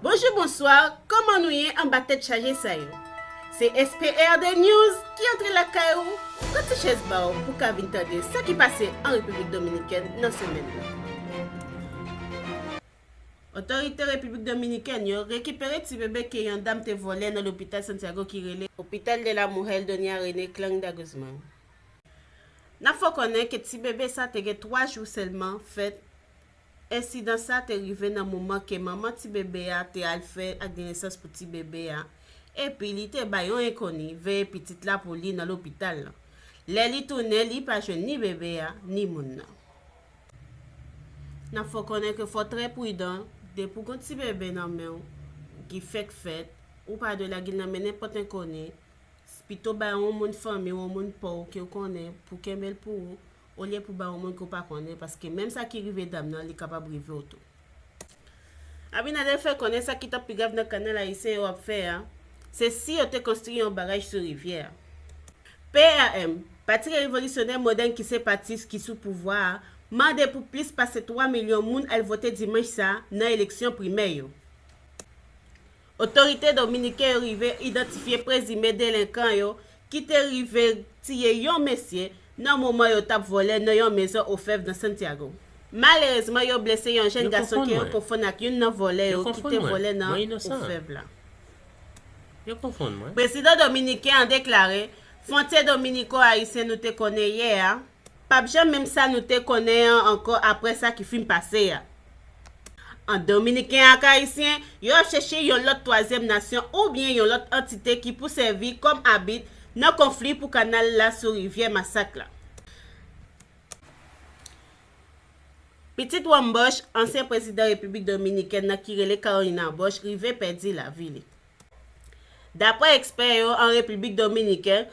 Bonjou bonsoir koman nou ye anba tèt chaje sa yo se SPRD news ki antre lakay ou pran ti chèz pa w pou ka vin tande sa ki pase an Repiblik Dominikèn nan semèn nan. Otorite Repiblik Dominikèn yo rekipere ti bebe ke yon dam te vòlè nan lopital Santiago ki rele Hopital de la Mujer Doña Renee Klangda Guzman. Nap fè w konnen ke ti bebe sa te gen 3 jou sèlman fèt Ensidan sa te rive nan moman ke manman ti bebe a te al fè akdenesans pou ti bebe a, epi li te bay yon enkoni veye pitit la pou li nan lopital lan. Lè li tounen, li pa jwenn ni bebe a, ni moun nan. Nap fè w konnen ke fò w trè pridan, depi w gon ti bebe nan men w ki fèk fèt, ou pa dwe lage l nan men nenpòt enkoni, pito bay yon moun fanmi w, yon moun pa w ke w konnen pou kenbe l pou ou, olye pou ba ou moun ke w pa konnen paske menm sa ki rive dam nan li kapab rive w tou. Abinader fè konnen sa ki t ap pi grav nan kanal ayisyen yo ap fè a se si yo te konstri yon baraj sou rivyè a. PRM, Pati Revolisyonè Modèn ki se pati ki sou pouvwa a, mande pou plis pase 3 milyon moun al vote dimanch sa nan eleksyon primè yo. Otorite dominiken yo rive idantifye prezime delenkan yo ki te rive tiye yon mesye nan moman yo tap vòlè nan yon mezon ofèv nan Santiago. Malerezman yo blese yon jèn gason ke yo konfonn ak youn nan vòlè yo ki te vòlè nan ofèv la. Prezidan dominiken an deklare, Fwontye dominiko-ayisyen nou te konnen yè a, Pap janm menm sa nou te konnen an ankò aprè sa ki fin pase a. Ant Dominiken ak Ayisyen, yo ap chèche yon lòt twazyèm nasyon oubyen yon lòt antite ki pou sèvi kòm abit nan konfli pou kanal la sou rivyè Masak la. Pitit Juan Bosch, ansyen prezidan Repiblik Dominikèn nan ki rele Carolina Bosch rive pèdi lavi li. Daprè ekspè yo an Repiblik Dominiken,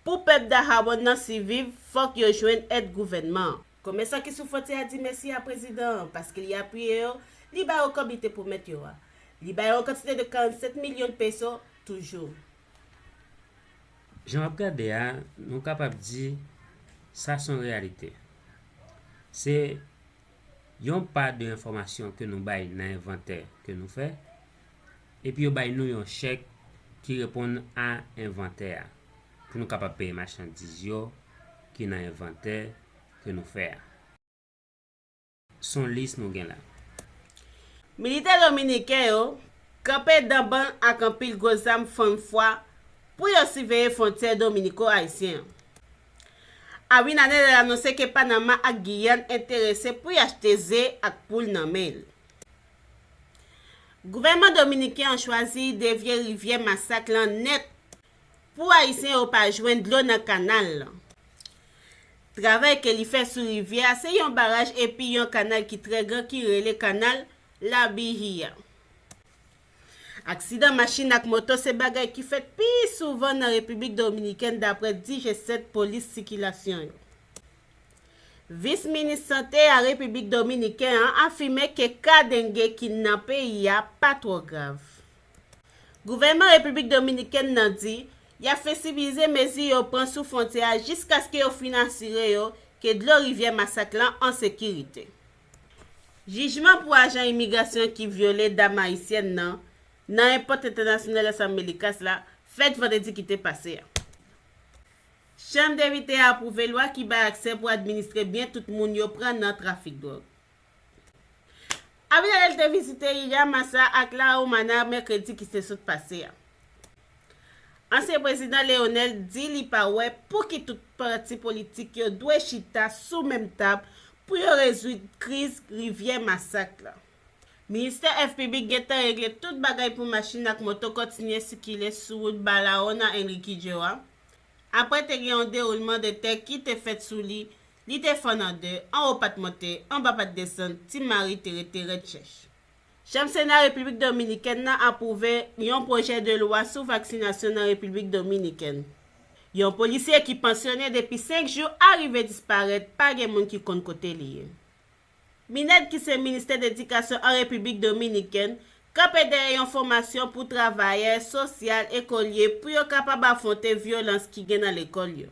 Pou pèp Dahawon nan siviv, fòk yo jwenn èd gouvènman an. Komèsan ki sou fwontyè a di mèsi a prezidan an paske li apiye yo, li ba yo kòb li te pwomèt yo a. Li ba yo yon kantite de 47 milyon de peso toujou. Jan w ap gade a, nou kapab di sa s on reyalite. Se yon pa de enfòmasyon ke nou bay nan envantè ke nou fè. Epi yo bay nou yon chèk ki reponn a envantè a pou nou kapab peye machandiz yo ki nan envantè ke nou fè a. Son lis nou gen la. Militè dominiken yo kanpe danbann ak anpil gwo zam fann fwa pou yo siveye fwontyè dominiko-ayisyen an. Abinader anonse ke Panama ak Giyàn enterese pou y achte ze ak poul nan men l. Gouvènman dominiken an chwazi devye rivyè masak lan nèt pou ayisyen yo pa jwenn dlo nan kanal lan. Travay ke li fè sou rivyè a se yon baraj epi yon kanal ki trè gran ki rele kanal Labihia. Aksidan machin ak moto se bagay ki fèt pi souvan nan Repiblik Dominikèn dapre di G7 polis sikilasyon yo. Vis Minis Sante a Repiblik Dominiken an afime ke ka denge ki nan peyi a pa twò grav. Gouvènman Repiblik Dominikèn nan di y ap fleksibilize mezi yo pran sou fwontyè a jiskaske yo fin asire yo ke dlo rivyè Masak lan an sekirite. Jijman pou ajan imigrasyon ki vyole dam ayisyèn nan nan Airport International Las Americas la fèt vandredi ki te pase a. Chanm Depite a apwouve lwa ki bay aksè pou administre byen tout moun yo pran nan trafik dwòg. Abinader te vizite Yaya Massa ak La Romana mèkredi ki te sot pase a. Ansyen prezidan Leonel di li pa wè pouki tout pati politik yo dwe chita sou menm tab pou yo rezoud kriz rivyè Masak la. Ministè Èv Piblik gentan regle tout bagay pou machin ak moto kontinye sikile sou wout Balaona-Enriquillo a. Apre te gen yon dewoulman de tè ki te fèt sou li, li te fann an de, anwo pa t monte, anba pa t desann, Ti Mari te rete rèd chèch. Chanm Sena Repiblik Dominikèn nan apwouve yon pwojè de lwa sou vaksinasyon nan Repiblik Dominikèn. Yon polisye ki pansyone depi 5 jou a rive disparèt, pa gen moun ki konn kote li ye. Mined ki se ministè dedikasyon an Repiblik Dominikèn, kanpe dèyè yon fòmasyon pou travayè sosyal ekolye pou yo kapab afwonte vyolans ki gen nan lekòl yo.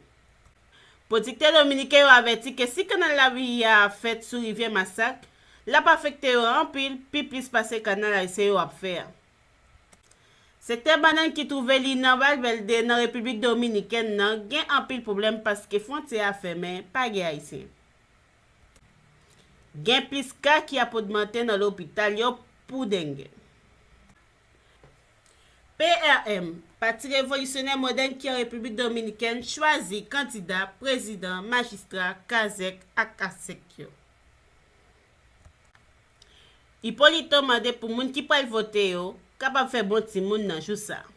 Pwodiktè dominiken yo avèti ke si kanal Laviya a fèt sou rivyè Masak, l ap afekte yo anpil, pi plis pase kanal ayisyen yo ap fè a. Sektè bannann ki twouve li nan Valvèlde nan Repiblik Dominikèn nan gen anpil pwoblèm paske fwontyè a fèmen, pa gen ayisyen. Gen plis ka ki ap ogmante nan lopital yo pou denge. PRM, Pati Revolisyonè Modèn ki an Repiblik Dominikèn chwazi kandida, prezidan, majistra, kazèk ak kasèk yo. Hipolito mande pou moun ki pral vote yo kapab fè bon timoun nan jou sa a.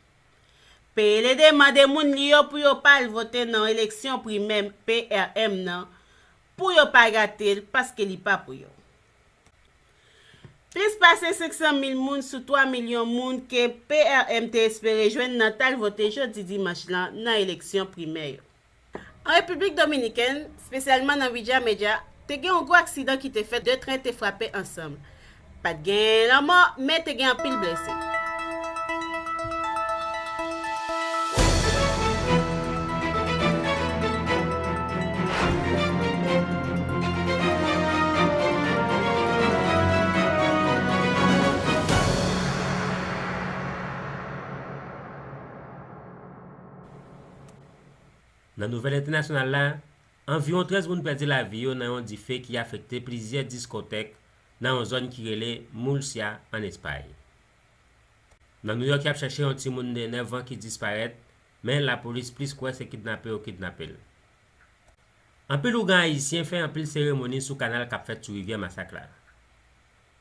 PLD mande moun li yo pou yo pa al vote nan eleksyon primè PRM nan pou yo pa gate l paske li pa pou yo. Plis pase 500 mil moun sou 3 milyon moun ke PRM te espere jwenn nan t al vote jodi dimanch lan nan eleksyon primè yo. An Repiblik Dominikèn, spesyalman nan Villa Mella, te gen yon gwo aksidan ki te fèt 2 tren te frape ansanm. Pa t gen lanmò, men te gen anpil blese. Nan nouvèl entènasyonal la, anviwon 13 moun pèdi lavi yo nan yon dife ki afekte plizyè diskotèk nan yon zòn ki rele Murcia an Espay. Nan Nouyòk yap chèche yon timoun de 9 an ki disparèt men lapolis plis kwè se kidnape yo kidnape l. Anpil ougan ayisyen fè anpil seremoni sou kanal kap fèt sou rivyè Masak la.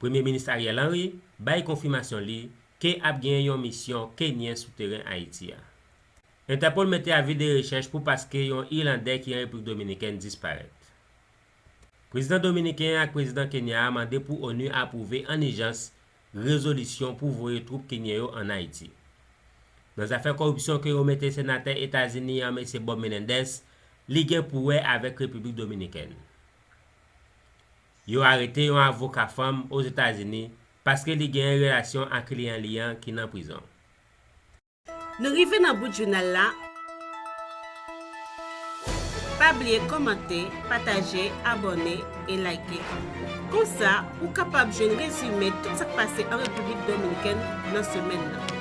Premye minis Ariel Henry bay konfimasyon li ke ap gen yon misyon kenyen sou teren Ayiti a. Interpol mete avi de rechèch pou paske yon Irlandè ki an Repiblik Dominikèn disparèt. Prezidan Dominiken an ak Prezidan Kenya a mande pou onu apwouve an ijans rezolisyon pou voye twoup Kenyen yo an Ayiti. Nan zafè koripsyon ke yo mete Senatè Etazini an Mesye Bob Menendez, li gen pou wè avèk Repiblik Dominikèn. Yo arete yon avoka fanm Ozetazini paske li genyen relasyon ak kliyan li an ki nan prizon. Nou rive nan bout jounal la. Pa bliye kòmante, pataje, abòne e like. Konsa, ou kapab jwenn rezime tout sa k pase an Repiblik Dominikèn nan semèn nan.